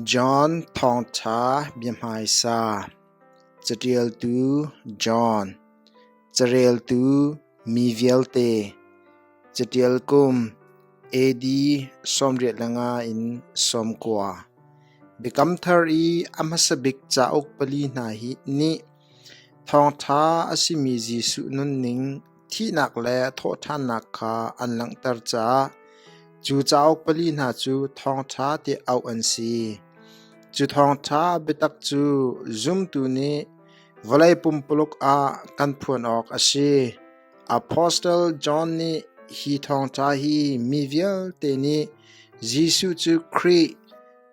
John Thawngṭha biahmaisa Caṭialtu John Careltu mi vialte Caṭial kum AD sawmriat le nga in sawm kua Biakam Thar i a hmasa bik cauk pali hna nih Thawngṭha a simi Jesuh nunning thihnak le thawhṭhannak kha an langhter caah cu cauk pali hna cu thawngṭha ti auh an si. Cu thawngṭha biatak cu zumtu nih vawlei pumpuluk ah kan phuan awk a si. Apostle John nih hi thawngṭha hi mi vialte nih Jesuh cu Khrih,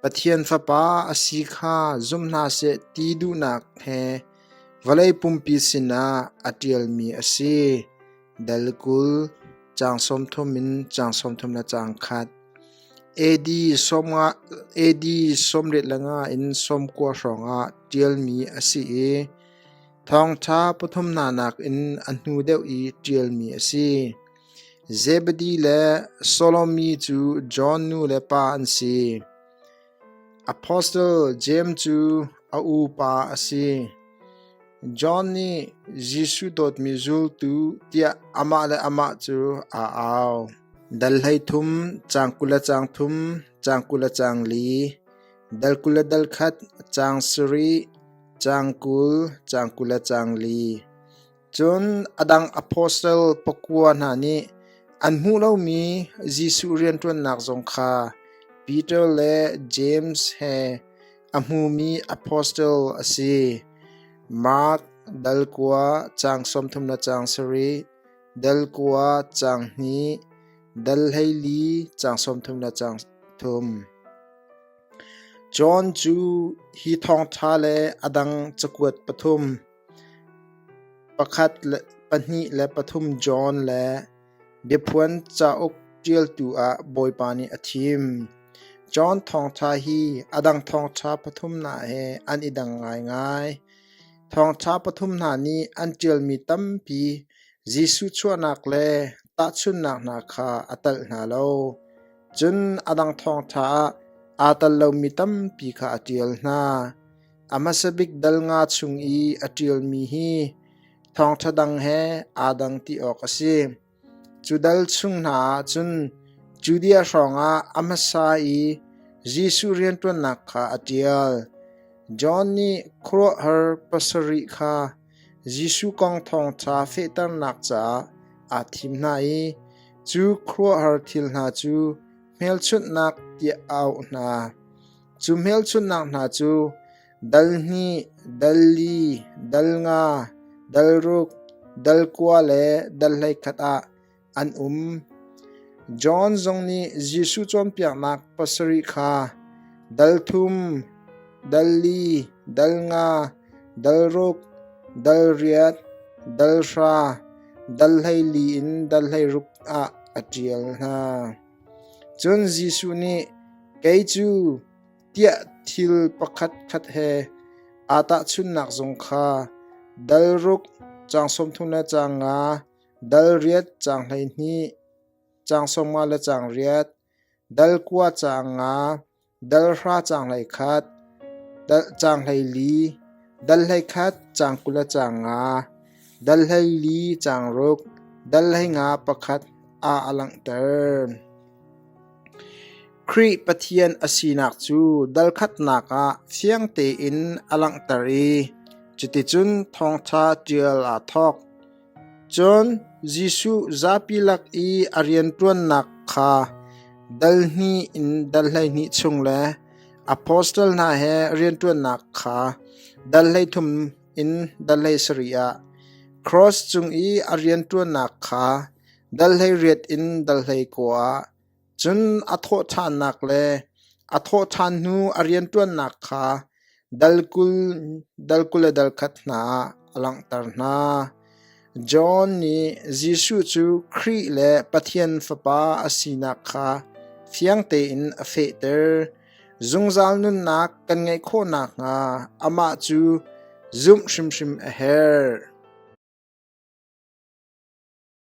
Pathian Fapa a si kha zum hna seh ti duhnak he Vawlei pumpi sinah a ṭialmi a si: Dal kul, caang sawmthum in caang sawmthum le caang khat. AD sawmriat le nga in sawmkua hrawngah ṭialmi a si i thawngṭha pathum hna nakin a hnu deuh i ṭialmi a si. Zebedi le Solomi cu John nu le pa an si. Apostle Jeim cu a upa a si. John nih Jesuh dawtmi zultu tiah amah le amah cu aa au. Dal hleithum, caang kul le caang thum, caang kul le caang li, dal kul le dal khat, caang sarih, caang kul, caang kul le caang li. Cun a dang apostle pakua hna nih an hmuh lomi Jesuh rianṭuannak zong kha Peter le James he a hmumi apostle a si. Mark dal kua caang sawmthum le caang sarih, dal kua caang hnih, dal hleili caang sawmthum le caang thum. John cu hi thawngṭha le a dang cakuat pathum Pahnih le pathum John le Biaphuan cauk ṭialtu ah Bawipa nih a thim. John thawngṭha hi a dang thawngṭha pathum hna he an i dang ngaingai. Thawngṭha pathum hna nih an ṭialmi tampi Jesuh chuahnak le tahchunhnak hna kha a telh hna lo. Cun a dang thawngṭha ah aa tel lomi tampi kha a ṭial hna. A hmasa bik dal nga chung i a ṭialmi hi thawngṭha dang he aa dang ti awk a si. Cu dal chung hna ah cun Judea hrawngah a hmasa i Jesuh rianṭuannak kha a ṭial. John nih khuaruahhar pasarih kha Jesuh kong thawngṭha fehternak caah aa thim hna i cu khuaruahhar thil hna cu hmelchunhnak tiah a auh hna. Cu hmelchunhnak hna cu dal hnih, dal li, dal nga, dal ruk, dal kua le dal hleikhat ah an um. John zong nih Jesuh cawnpiaknak pasarih kha dal thum, dal li, dal nga, dal ruk, dal riat, dal hra, dal hleili in dal hleiruk ah a ṭial hna. Cun Jesuh nih, Kei cu tiah thil pakhatkhat he aa tahchunhnak zung kha dal ruk caang sawmthum le caang nga, dal riat caang hleihnih, caang sawmnga le caang riat, dal kua caang nga, dal hra caang hlei khat, dal caang hlei li, dal hlei khat caang kul a caang nga, dal hlei li caang ruk, dal hlei nga pakhat a a langhter. Khrih Pathian a sinak cu dal khatnak ah fiang tein a langhter i cuticun thawngṭha ṭial aa thawk. Cun Jesuh zapi lak i a rianṭuannak kha dal hnih in dal hleihnih chung le apostle hna he rianṭuannak kha dal hleithum in dal hleisarih ah, kraws cung i a rianṭuannak kha dal hleiriat in dal hlei kua ah, Cun a thawhṭhannak le a thawhṭhan hnu a rianṭuannak kha dal kul dal kul le dal khat hna ah a langhter hna. John nih Jesuh cu Khrih le Pathian Fapa a sinak kha fiang tein a fehter. Zungzal nunnak kan ngeih khawh nakhnga amah cu zumh hrimhrim a herh.